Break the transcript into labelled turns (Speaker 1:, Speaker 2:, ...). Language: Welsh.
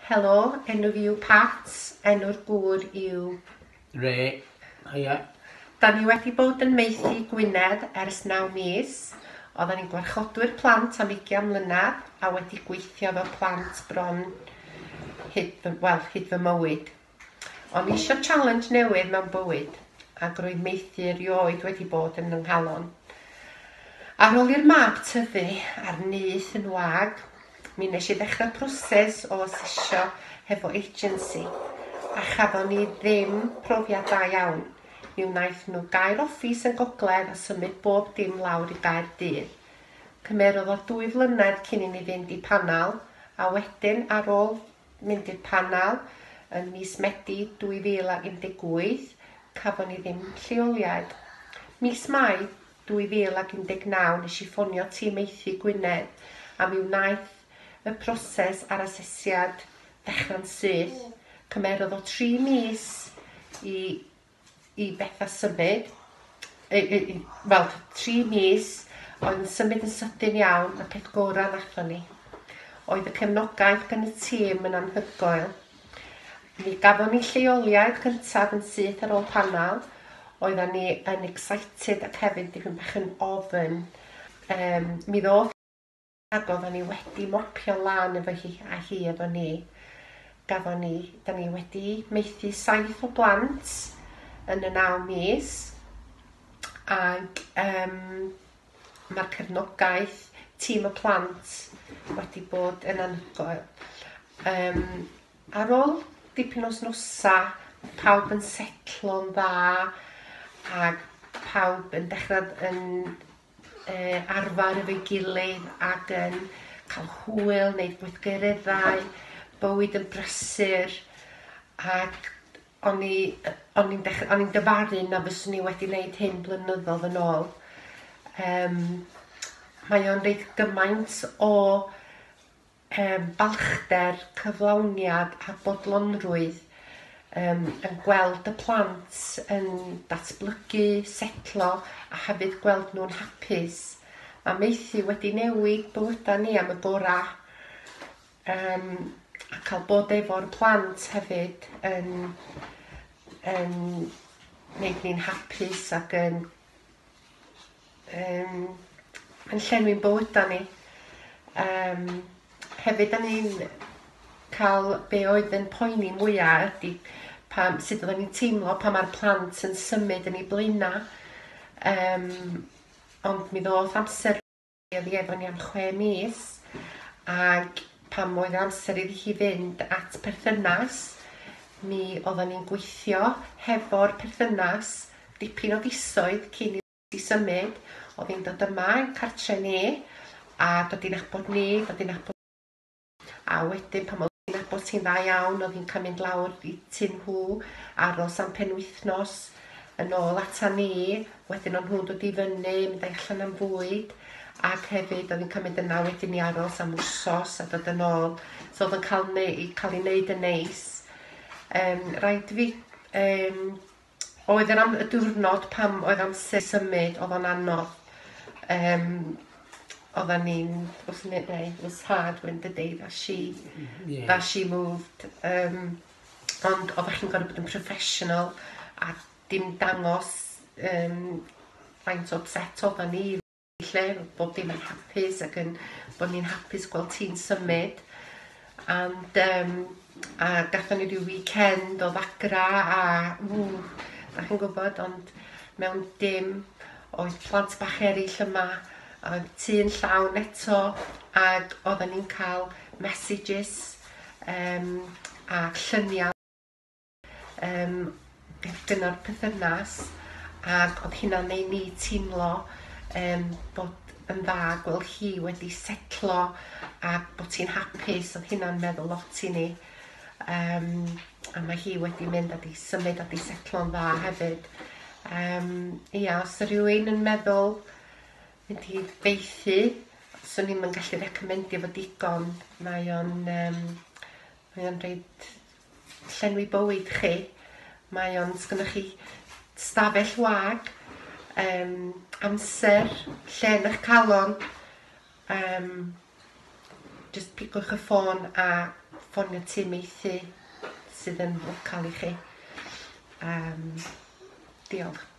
Speaker 1: Helo, enw fi yw Pat, enw'r gŵr yw... Ray,
Speaker 2: haia. Da ni
Speaker 1: wedi bod yn maethu Gwynedd ers naw mis. Oeddan ni'n gwarchodwyr plant am ugian mlynedd a wedi gweithio efo plant bron hyd fy, wel, hyd fy mywyd. O'n isio challenge newydd mewn bywyd, ac roedd maethu erioed wedi bod yn fy nghalon. Ar ôl i'r mab tyfu a'r nyth yn wag, mi nes i ddechrau proses o asesio hefo agency, a chafon ni ddim profiad da iawn. Mi wnaeth nhw gau'r office yn gogledd a symud bob dim lawr i Gaerdydd. Cymerodd o dwy flynedd cyn i ni fynd i panel, a wedyn ar ôl mynd i'r Panel yn mis Medi 2018, cafon ni ddim lleoliad. Mis Mai 2019 nes i ffonio Tîm Maethu Gwynedd a mi wnaeth y proses a'r asesiad ddechrau'n syth. Cymerodd o tri mis i i bethau symud, wel, tri mis, oedd yn symud yn sydyn iawn, y peth gorau nathon ni. Oedd y cefnogaeth gan y tîm yn anhygoel. Mi gafon ni lleoliad cyntaf yn syth ar ôl panel, oedden ni yn excited ac hefyd dipyn bach yn ofn. Um, mi ddoth ac oeddan ni wedi mopio lan efo hi a hi efo ni. Gafon ni, da ni wedi maethu saith o blant yn y naw mis ac um, mae'r cefnogaeth tîm y plant wedi bod yn anhygoel. Um, ar ôl dipyn o snosa, pawb yn setlo'n dda ac pawb yn dechrau yn arfer efo'i gilydd ac yn cael hwyl, wneud gweithgareddau, bywyd yn brysur ac o'n i yy o'n i'n dech- o'n i'n dyfaru na fyswn i wedi wneud hyn blynyddoedd yn ôl. Yym mae o'n reit gymaint o yym balchder, cyflawniad a bodlonrwydd yym yn gweld y plant yn datblygu, setlo a hefyd gweld nhw'n hapus. Mae maethu wedi newid bywydau ni am y gorau yym a cael bod efo'r plant hefyd yn yn wneud ni'n hapus ac yn um, yn llenwi'n bywydau ni. Um, hefyd, da ni'n cael be oedd yn poeni mwyaf ydy pam, sut oedden ni'n teimlo pa mae'r plant yn symud yn ei blaenau. Um, ond mi ddoth amser Oedd hi efo ni am chwe mis ac pan oedd amser iddi hi fynd at perthynas mi oeddan ni'n gweithio hefo'r perthynas dipyn o fisoedd cyn i hi symud. Oedd hi'n dod yma i'n cartre ni a dod i nabod ni, dod i nabod A wedyn pan oedd hi'n nabod ti'n dda iawn oedd hi'n cael mynd lawr i tŷ nhw, aros am penwythnos, yn ôl ata ni, wedyn o'n nhw'n dod i fyny, mynd â'i allan am fwyd, ac hefyd oedd hi'n cael mynd yna wedyn i aros am wsos a dod yn ôl. So oedd o'n cael neu- cael ei wneud yn neis. Um, rhaid fi um, oedd yr am- y diwrnod pam oedd amser symud oedd o'n anodd um, oedden ni'n wrth wneud neu it was hard when the day that she yeah. that she moved um, ond oeddech chi'n gorfod bod yn professional a dim dangos um, faint o upset oedden ni lle bod dim yn hapus ac yn bod ni'n hapus gweld ti'n symud and um, a gatho ni rhyw weekend o ddagra a ww, da chi'n gwybod ond mewn dim oedd plant bach eraill yma a oedd tu yn llawn eto ac oedden ni'n cael messages um, a lluniau Yym, dyna'r pythynas, ac oedd hynna'n ei ni teimlo um, bod yn dda gweld hi wedi setlo a bod hi'n hapus, oedd hynna'n meddwl lot i ni. Um, a mae hi wedi mynd a di symud a di setlo'n dda hefyd. Um, ia, os yw rhywun yn meddwl mynd i feithi, swn i'n gallu recomendio fo digon. Mae o'n, um, mae o'n reid llenwi bywyd chi. Mae o'n... Sgynnoch chi stafell wag, um, amser, lle yn eich calon, um, just pigwch y ffôn a ffonio tîm meithi sydd yn local i chi. Um, diolch.